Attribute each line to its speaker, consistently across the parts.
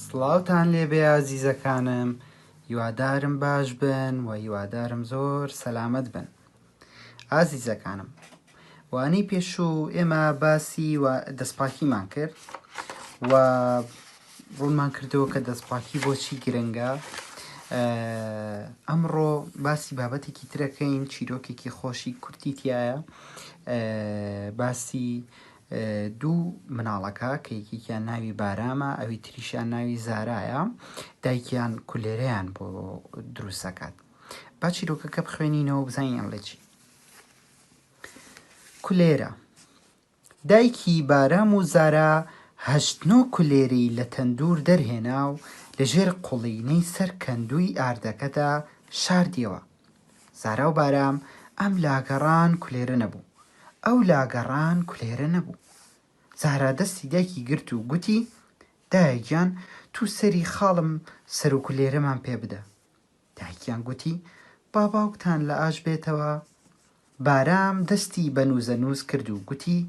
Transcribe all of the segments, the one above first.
Speaker 1: سڵاوتان لێبێ ئازیزەکانم هیوادارم باش بن و هیوادارم زۆر سەلامت بن ئازیزەکانم وانەی پێشوو ئێمە باسی و دەستپاکیمان کرد و ڕوونمان کردەوە کە دەستپاکی بۆچی گرنگە ئەمڕۆ باسی بابەتێکی ترەکەین چیرۆکێکی خۆشی کورتی تایە باسی دوو مناڵەکە کە یەکێکیان ناوی بارامە ئەوی تریشیان ناوی زارایە دایکیان کولێرەیان بۆ دروستەکات با چیرۆکەکە بخوێنینەوە بزانین لە چی کولێرە دایکی بارام و زارا هەشت نۆ کولێرەی لە تەندوور دەرهێنا و لە ژێر قوڵینەی سەر کەندووی ئاردەکەدا شاردیەوە. زارا و بارام ئەم لا گەڕان کولێرە نەبوو، ئەو لا گەڕان کولێرە نەبوو. زارا دەستی دایکی گرت و گوتی، دایە گیان توو سەری خاڵم سەروکولێرەمان پێ بدە. دایکیان گوتی، با باوکتان لە ئاش بێتەوە. بارام دەستی بە نووزەنووز کرد و گوتی،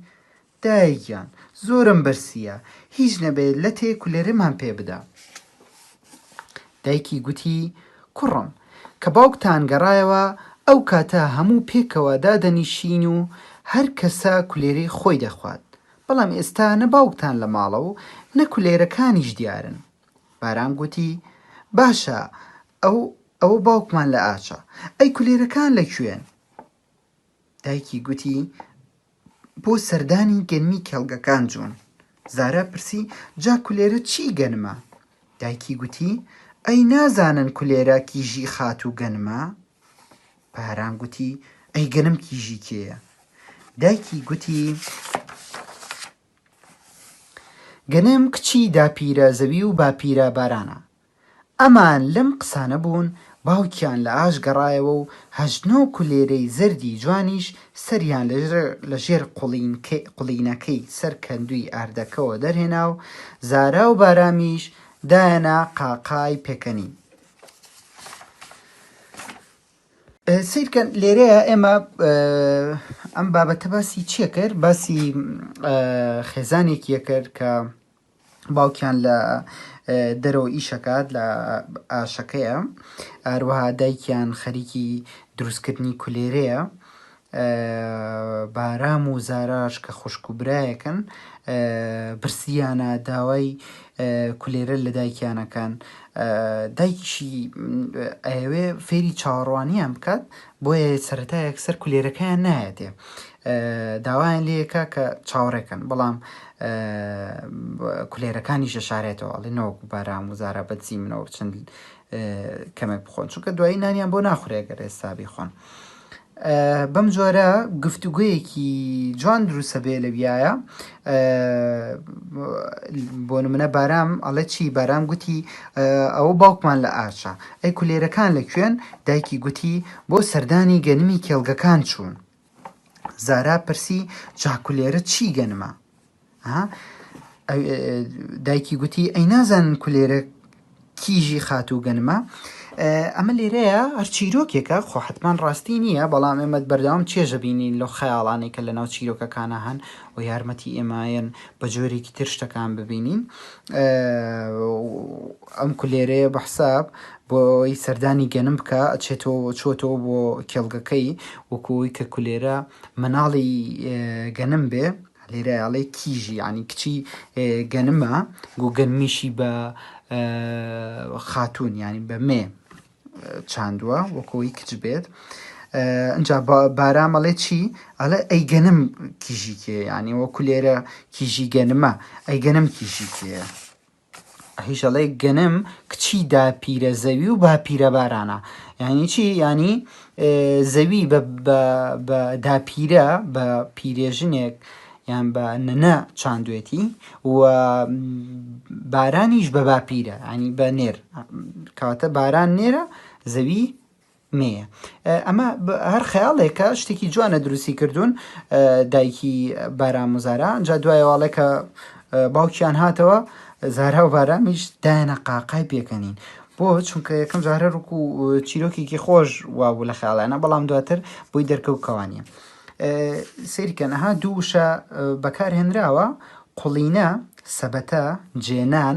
Speaker 1: دایە گیان، زۆرم برسییە، هیچ نەبێ لەتێ کولێرەمان پێ بدە. دایکی گوتی، کوڕم، کە باوکتان گەڕایەوە، ئەو کاتە هەموو پێکەوە دادەنیشین و هەر کەسە کولێرەی خۆی دەخوات، بەڵام ئێستا نە باوکتان لە ماڵە و نە کولێرەکانیش دیارن. بارام گوتی، باشە ئەو ئەوە باوکمان لە ئاچە. ئەی کولێرەکان لە کوێن؟ دایکی گوتی، بۆ سەردانی گەنمی کێڵگەکان جوون. زارا پرسی، جا کولێرە چی گەنمە؟ دایکی گوتی، ئەی نازانن کولێرە کیژی خاتوو گەنمە؟ بارام گوتی، ئەی گەنم کیژی کێیە؟ دایکی گوتی. گەنم کچی داپیرە زەوی و باپیرە بارانە. ئەمان لەم قسانە بوون، باوکیان لە ئاش گەڕایەوە و هەشت نۆ کولێرەی زەردی جوانیش سەریان لە ژێر قوڵینەکەی سەر کەندووی ئاردەکەوە دەرهێنا و زارا و بارامیش دایەنە قاقای پێکەنین. سیرکەن لێرەیە ئێمە ئەم بابەتە باسی چیە کرد باسی خێزانێکیە کرد کە باوکیان لە دەرەوە ئیشەکات لە ئاشەکەیە ئاروها دایکیان خەریکی دروستکردنی کولێرەیە بارام و زاراش کە خوشک و برایەکن برسیانە داوای کولێرە لە دایکیانە کەن دایکیشی ئەیەوێ فێری چاوەڕوانیان بکات بۆیە سەرەتا یەکسەر کولێرەکەیان نایەتێ داوایان لەکە کە چاوەڕێکەن بەڵام کولێرەکانیش دەشارێتەوە ئەڵێ نەوەک بارام و زارا بەدزی منەوە چەند کەمێک بخۆن چونکە دوایی نانیان بۆ ناخورێگەر ئێستا بیخۆن بەم جۆرە گفتوگۆیەکی جوان دروستە بێ لەویایە بۆ نمونە بارام ئەڵێ چی بارام گوتی ئەوە باوکمان لە ئارچە ئەی کولێرەکان لە کوێن دایکی گوتی بۆ سەردانی گەنمی کێڵگەکان چوون زارا پرسی جاکولێرە چی گەنمە دایکی گوتی ئەی نازانن کولێرە کیژی خاتوو گەنمە ئەمە لێرەیە هەر چیرۆکێکە خۆ حتمان ڕاستی نییە بەڵام ئێمەد بەردەوام چێژە بینین لەو خەیاڵانێک کە لە ناو چیرۆکەکانە هەن و یارمەتی ئێمایەن بە جۆرێکی تر شتەکان ببینین ئەم کولێرەیە بە حساب بۆی سەردانی گەنم بکە ئەچێتەوە چۆتەوە بۆ کێڵگەکەی وەکوی کە کولێرە مناڵی گەنم بێ لێرە ئەڵێ کیژی یانی کچی گەنمە گو گەنمیشی بە خاتون یانی بە مێ چاندووە وەکۆی کچ بێت ئەجا بارامەڵێ چی ئەلە ئەی گەنم کیژی کێ یانی وەکو لێرە کیژی گەنمە ئەی گەنم کیژی کێ هیشەڵەی گەنم کچی داپیرە زەوی و باپیرە بارانە یعنی چی یعنی زەوی بە داپیرە بە پیرێژنێک یان بە نەنە چاندوێتی و بارانیش بە باپیرە ینی بە نێر کاتە باران نێرە زەوی نیە ئەمە هەر خەیاڵێکە شتێکی جوانە دروستی کردوون دایکی باران مزارا ئەجا دوایەواڵێکە باوکیان هاتەوە زارا و بارامیش دایانە قاقای پێکەنین بۆ چونکە یەکەم جارە ڕوک و چیرۆکێکی خۆش وابوو لە خیاڵانە بەڵام دواتر بۆی دەرکەوت کەوانە سیرکەنەها دووشە بەکارهێنراوە قوڵینە سەبەتە جێنان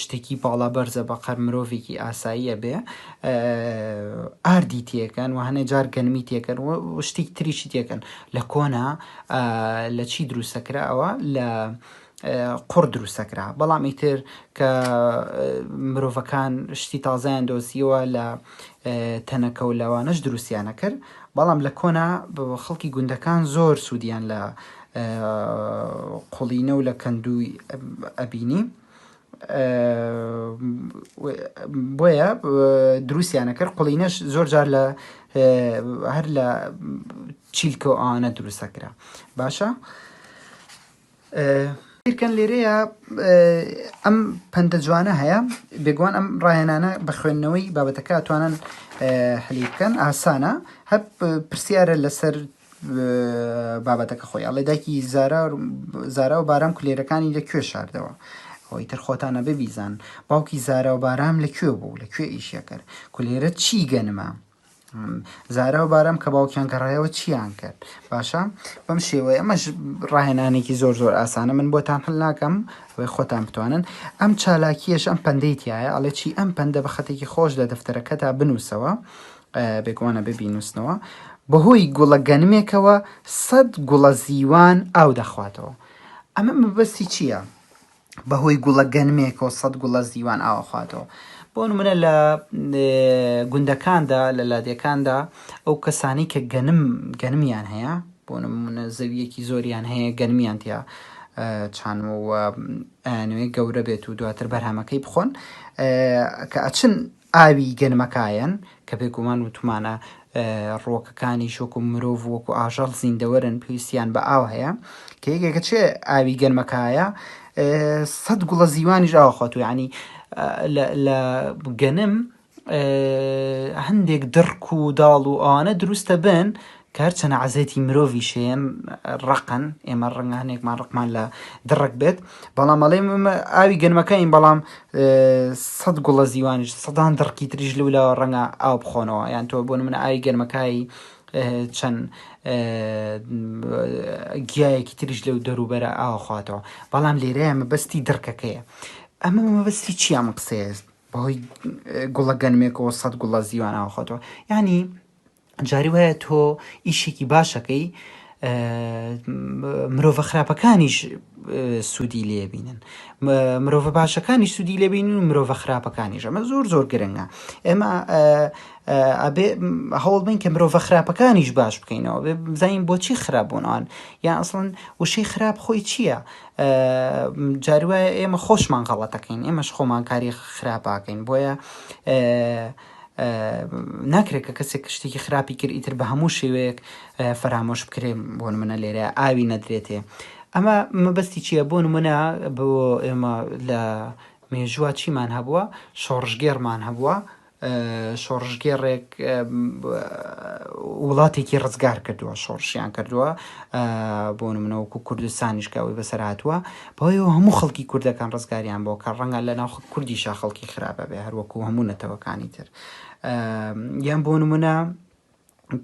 Speaker 1: شتێکی باڵا بەرزە بەقەر مرۆڤێکی ئاسایی ئەبێ ئاردی تێکەن و هەنێ جار گەنمی تێکەن و شتێک تریشی تێکەن لە کۆنا لە چی دروستەکراوە لە قڕ دروستەکرا بەڵام ئیتر کە مرۆڤەکان شتی تازایان دۆزیەوە لە تەنەکە و لەوانەش دروستیانە کرد بەڵام لە کۆنا خەڵکی گوندەکان زۆر سوودیان لە قوڵینە و لە کەندووی ئەبینی بۆیە دروستیانە کرد قوڵینەش زۆر جار لە هەر لە چیلکە و ئاوانە دروستەکرا باشە بیرکەن لێرەیە ئەم پەندە جوانە هەیە بێگوان ئەم ڕاهێنانە بە خوێندنەوەی بابەتەکە توانن حلی بکەن ئاسانە هەر پرسیارە لەسەر بابەتەکە خۆی ئەڵێ دایکی زارا زارا و بارام کولێرەکانی لە کوێ شاردەوە ئەوەی تر خۆتانە ببیزان باوکی زارا و بارام لە کوێ بوو لە کوێ ئیشەکرد کولێرە چی گەنمە زارا و بارام کە باوکیان گەڕایەوە چیان کرد باشە بەم شێوەیە ئەمەش ڕاهێنانێکی زۆر زۆر ئاسانە من بۆتان هەل ناکەم وی خۆتان بتوانن ئەم چالاکیەش ئەم پندەیتیایە ئەڵێ چی ئەم پندە بە خەتێکی خۆش لە دەفتەرەکە تا بنووسەوە بێگوانە ببینوسنەوە بەهۆی گوڵە گەنمێکەوە سەد گوڵە زیوان ئاو دەخواتەوە ئەمە مەبەستی چییە؟ بەهۆی گوڵە گەنمێکەوە سەد گوڵە زیوان ئاوەخواتەوە بۆ نمونە لە گوندەکاندا لە لادێکاندا ئەو کەسانی کە گەنم گەنمیان هەیە بۆ نمونە زەویەکی زۆریان هەیە گەنمیان تیا چانەوە ئەیانوێ گەورە بێت و دواتر بەرهەمەکەی بخۆن کە ئەچن ئاوی گەنمەکایەن، کە بێگومان وتومانە ڕووەکەکانیش وەکو مرۆڤ و وەکو ئاژەڵ زیندەوەرن پێویستیان بە ئاو هەیە، کە یەکێکە چێ ئاوی گەنمەکایە سەد گوڵە زیوانیش ئاوەخوات و یعنی لە گەنم هەندێک دڕک و داڵ و ئەوانە دروستە بن کار چەنە عەزێتی مرۆڤی شێم ڕەقن ئێمە ڕەنگە هەنێکمان ڕقمان لە دڕک بێت بەڵام ئەڵێم ئمە ئاوی گەنمەکەین بەڵام سەد گوڵە زیوانش سەدان دڕکی تریش لەو لاوە ڕەنگە ئاو بخۆنەوە یان تۆ بۆ منە ئاوی گەنمەکایی چەند گیایەکی تریش لەو دەروبەرە ئاخواتەوە بەڵام لێرەیە مەبەستی دڕکەکەیە ئەمە مەبەستی چیان قسەیە بەهۆی گوڵە گەنمێکەوە سەد گوڵە زیوان ئاخۆتەوە ینی جاری وایە تۆ ئیشێکی باشەکەی مرۆڤە خراپەکانیش سوودی لێبینن مرۆڤە باشەکانی سوودی لێبین و مرۆڤە خراپەکانیش ئەمە زۆر زۆر گرنگە ئێمە ئەبێ هەوڵ بین کە مرۆڤە خراپەکانیش باش بکەینەوە بێ بزانین بۆچی خراپ بوونەوەن یان ئەسڵن وشەی خراپ خۆی چییە جاروایە ئێمە خۆشمان غەڵەتەکەین ئێمەش خۆمانکاری خراپاکەین بۆیە ناکرێت کە کەسێک شتێکی خراپی کرد ئیتر بە هەموو شێوەیەک فەرامۆش بکرێ بۆ منە لێرە ئاوی نەدرێتێ ئەمە مەبەستی چییە بۆ منە بۆ ئێمە لە مێژووە چیمان هەبووە شۆڕژگێڕمان هەبووە شۆڕژگێڕێک وڵاتێکی ڕزگار کردووە شۆڕشیان کردووە بۆ منەوەکو کوردستانیشکەوەی بەسەراتوە بەوەیەوە هەموو خەڵکی کوردەکان ڕزگاریان بۆ کە ڕەنگە لە ناو کوردیشا خەڵکی خراپ بێ هەر وەکوو هەموو نەتەوەکانی تر یان بۆ نمونە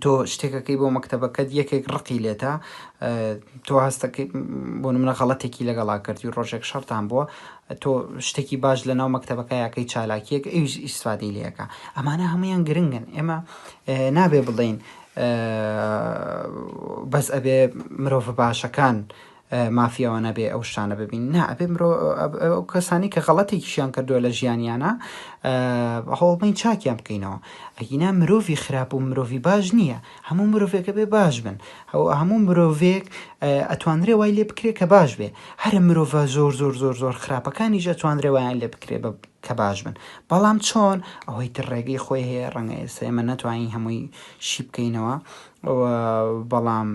Speaker 1: تۆ شتێکەکەی بۆ مەکتتەبەکەت یەکێک ڕقی لێتە تۆ هەستەکە بۆ منە غەڵەتێکی لەگەڵا کردی ڕۆژێک شەرتان بووە تۆ شتێکی باش لە ناو مەکتتەبەکە یاکەی چالاکیەک ئەوش ئیسفادی لەکە ئەمانە هەمویان گرنگن ئێمە نابێ بڵین بەس ئەبێ مرۆڤ باشەکان مافی ئەوە نەبێ ئەو شتانە ببین نا ئەبێ مرۆ ئەو کەسانی کە غەڵەتێکیشیان کردووە لە ژیانیانە هەوڵبین چاکیان بکەینەوە ئەگینا مرۆڤی خراپ و مرۆڤی باش نییە هەموو مرۆڤێکە بێ باش بن ئەو هەموو مرۆڤێک ئەتوانرێ وای لێ بکرێ کە باش بێ هەرە مرۆڤ زۆر زۆر زۆر زۆر خراپەکانیش ئەتوانرێ وایان لێ بکرێ بە کە باش بن بەڵام چۆن ئەوەی تر ڕێگەی خۆی هەیە ڕەنگە ئێستا ئێمە نەتوانین هەمووی شی بکەینەوە بەڵام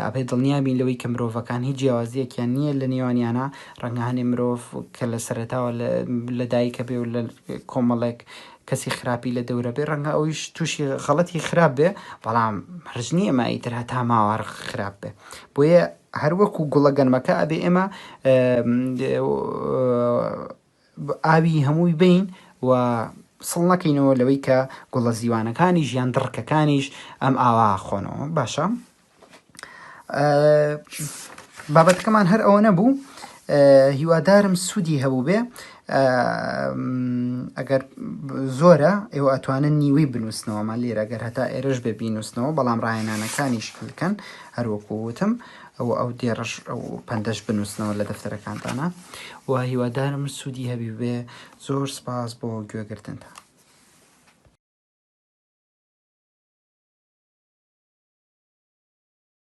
Speaker 1: ئەبێت دڵنیا بین لەوەی کە مرۆڤەکان هیچ جیاوازییەکیان نییە لە نێوانیانا، ڕەنگە هەنێ مرۆڤ کە لە سەرەتاوە لە دایکە بێ و لە کۆمەڵێک کەسی خراپی لە دەورە بێ، ڕەنگە ئەویش تووشی غەڵەتی خراپ بێ، بەڵام هەرج نییە ئەمە ئیتر هەتا ماوە هەر خراپ بێ. بۆیە هەر وەکوو گوڵە گەنمەکە ئەبێ ئێمە ئاوی هەمووی بەین و سڵ نەکەینەوە لەوەی کە گوڵە زیوانەکانیش یان دڕکەکانیش ئەم ئاوا خۆنەوە باشە بابەتەکەمان هەر ئەوە نەبوو هیوادارم سوودی هەبوو بێ ئەگەر زۆرە ئێوە ئەتوانن نیوەی بنووسنەوەمان لێرە گەر هەتا ئێرش بێ بینووسنەوە بەڵام ڕایەنانەکانیش بکەن هەروەکو وتم ئەوە ئەو دێڕەش ئەو پەندەش بنووسنەوە لە دەفتەرەکانتانە و هیوادارم سوودی هەبی بێ زۆر سپاس بۆ گوێگرتنتان